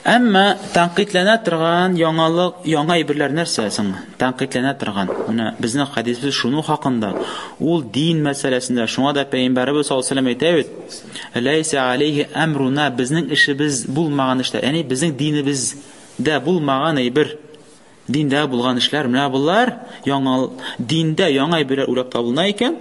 Әмма тәнкыйтьләнә торган яңалык, яңа әйберләр нәрсә соң? Тәнкыйтьләнә торган. Менә безнең хәдисбез шуның хакында. Ул дин мәсьәләсендә, шуңа да Пәйгамбәребез саллаллаһу алейһи ва сәлләм әйтә бит, Ләйсә алейһи әмруна, безнең эшебез булмаган эшләр, ягъни безнең динебездә булмаган әйбер, диндә булган эшләр, менә болар яңа, диндә яңа әйберләр уйлап табылына икән,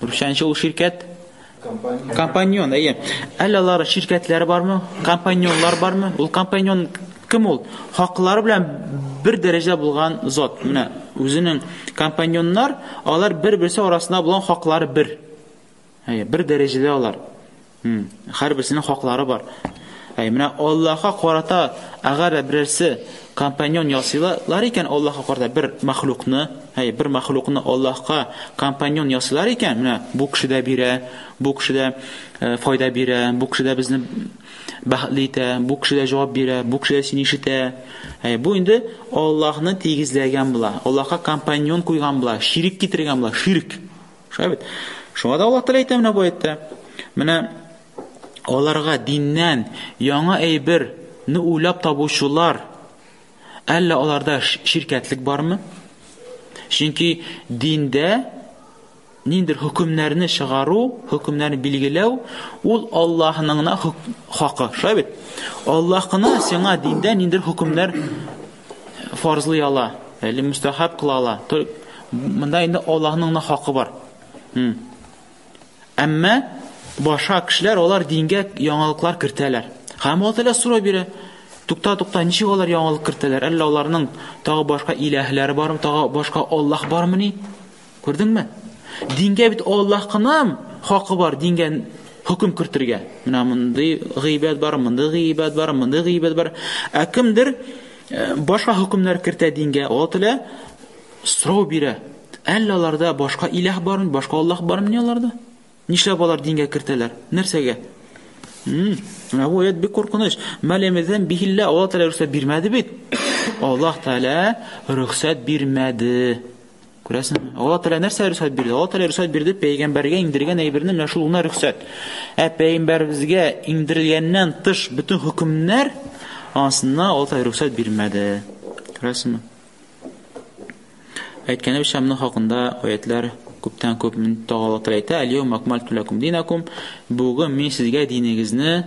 Русчанчы ул ширкәт? Компаньон. Компаньон, әйе. Әллә алар ширкәтләре бармы? Компаньонлар бармы? Ул компаньон кем ул? Хаклары белән бер дәрәҗә булган зат. Менә үзенең компаньоннар, алар бер-берсе арасында булган хаклары бер. Әйе, бер дәрәҗәдә алар. Хм, хәрберсенең хаклары бар. Әй, менә Аллаһка карата әгәр дә берәрсе компаньон ясыйлар икән Аллаһка карата бер мәхлукны, әй, бер мәхлукны Аллаһка компаньон ясыйлар икән, менә бу кеше дә бирә, бу кеше дә э, файда бирә, бу кеше дә безне бәхетле итә, бу кеше дә җавап бирә, бу кеше дә сине ишетә. Әй, бу инде Аллаһны тигезләгән була. Аллаһка компаньон куйган була, ширик китергән була, ширк. Шулай бит. Шуңа да Аллаһ Тәгалә әйтә менә бу әйтә. Менә аларга диннән яңа әйберне уйлап табучылар әллә аларда ширкәтлек бармы? Чөнки диндә ниндер хөкемнәрне чыгару, хөкемнәрне билгеләү, ул Аллаһның хакы. Шулай бит? Аллаһ кына сиңа диндә ниндер хөкемнәр фарзлый ала, әле мөстәхәб кыла ала. Монда инде Аллаһның да хакы бар. Әмма баша кешеләр алар дингә яңалыклар кертәләр. Һәм Аллаһ Тәгалә сорау бирә, Тукта, тукта, ничек алар яңалык кертәләр? Әллә аларның тагы башка иләһләре бармы, тагы башка Аллаһ бармыни? Күрдеңме? Дингә бит Аллаһ кына хакы бар дингә хөкем кертергә. Менә мондый гыйбад бар, мондый гыйбад бар, мондый гыйбад бар. Ә кемдер э, башка хөкемнәр кертә дингә, Аллаһ Тәгалә сорау бирә. Әллә аларда башка иләһ бармы, башка Аллаһ бармы ни аларда? Нишләп алар дингә кертәләр? Нәрсәгә? Менә бу аят бик куркыныч. Мәлемездән бихиллә Аллаһ Тәгалә рөхсәт бирмәде бит. Аллаһ Тәгалә рөхсәт бирмәде. Күрәсең, Алла Тәгалә нәрсә рөхсәт бирде? Алла Тәгалә рөхсәт бирде пәйгамбәргә иңдергән әйберне менә шул гына рөхсәт. Ә пәйгамбәребезгә иңдерелгәннән тыш бөтен хөкемнәр ансына Алла Тәгалә рөхсәт бирмәде. Күрәсеңме? Әйткәнебезчә, моның хакында аятлар күптән күп тагы Алла Тәгалә әйтә: "Аль-яума акмалту лакум динакум" Бүген мин сезгә динегезне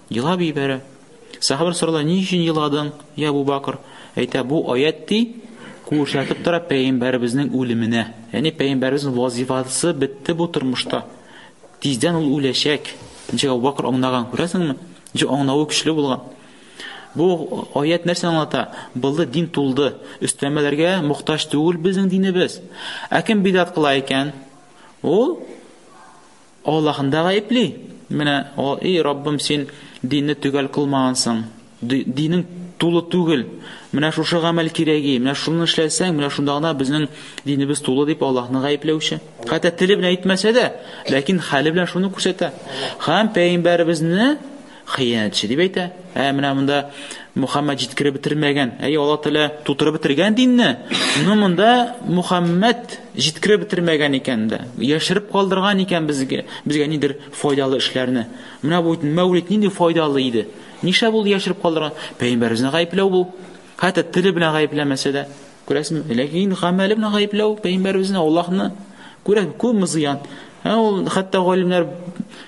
Елап ибәрә. Сахабалар сорала, ни өчен еладың, я Абу Бакр? Әйтә, бу аят ди, күрсәтеп тора пәйгамбәребезнең үлеменә. Яни пәйгамбәребезнең вазифасы бетте бу тормышта. Тиздән ул үләчәк. Ничек Абу Бакр аңлаган, күрәсеңме? Ничек аңлавы көчле булган. Бу аят нәрсә аңлата? Булды дин тулды. Өстәмәләргә мохтаҗ түгел безнең динебез. Ә кем бидат кыла икән? Ул Аллаһын да гаепли. Менә, о, и Раббым, син динне төгәл кылмагансың. Динең тулы түгел. Менә шушы гамәл кирәги. Менә шуны эшләсәң, менә шунда гына безнең динебез тулы дип Аллаһны гаепләүче. Хәтта теле белән әйтмәсә дә, ләкин хәле белән шуны күрсәтә. Хәм пәйгамбәребезне Хыянәтче, дип әйтә. Ә менә монда Мухаммад җиткереп бетермәгән. Әй, Аллаһ Тәгалә тутырып бетергән динне. Но монда Мухаммад җиткереп бетермәгән икән дә. Яшереп калдырган икән безгә, безгә нидер файдалы эшләрне. Менә бу мәүлид нинди файдалы иде. Нишләп ул яшереп калдырган? Пәйгамбәребезне гаепләү бу. Хәтта теле белән гаепләмәсә дә, күрәсезме? Ләкин гамәле белән гаепләү пәйгамбәребезне Аллаһны күрә күпме зыян. Ә ул хәтта галимнәр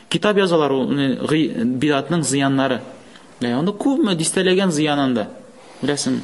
китап язалар ул бидатның зыяннары. Ләкин аны күпме дистәләгән зыянында. Беләсеңме?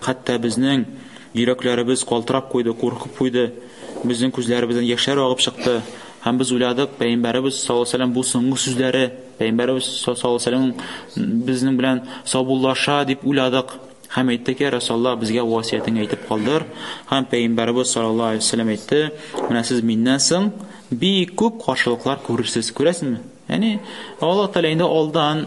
Хәтта безнең йөрәкләребез калтырап куйды, куркып куйды, безнең күзләребездән яшьләр агып чыкты һәм без уйладык, Пәйгамбәребез саллаллаһу алейһи ва сәлләм бу соңгы сүзләре, Пәйгамбәребез саллаллаһу алейһи ва сәлләмнең безнең белән саубуллаша дип уйладык. Һәм әйттек, Йә Расулаллаһ, безгә васыятеңне әйтеп калдыр. Һәм Пәйгамбәребез саллаллаһу алейһи ва сәлләм әйтте, Менә сез миннән соң бик күп каршылыклар күрерсез. Күрәсезме? Яни Аллаһ Тәгалә инде алдан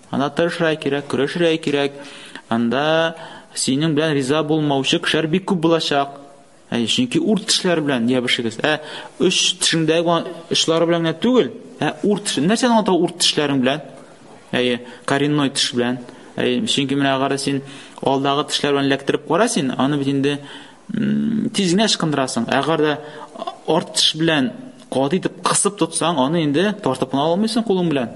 Анда тырышырга кирәк, көрәшергә кирәк. Анда синең белән риза булмаучы кешеләр бик күп булачак. Әй, чөнки урт тешләр белән ябышыгыз. Ә үч тешеңдәге очлары белән генә түгел, ә урт теш. Нәрсәне аңлата урт тешләрең белән? Әй, коренной теш белән. Әй, чөнки менә агара син алдагы тешләр белән ләктереп кара син, аны бит инде тиз генә ычкындырасың. Әгәр дә арт теш белән каты итеп кысып тотсаң, аны инде тартып кына алмыйсың кулың белән.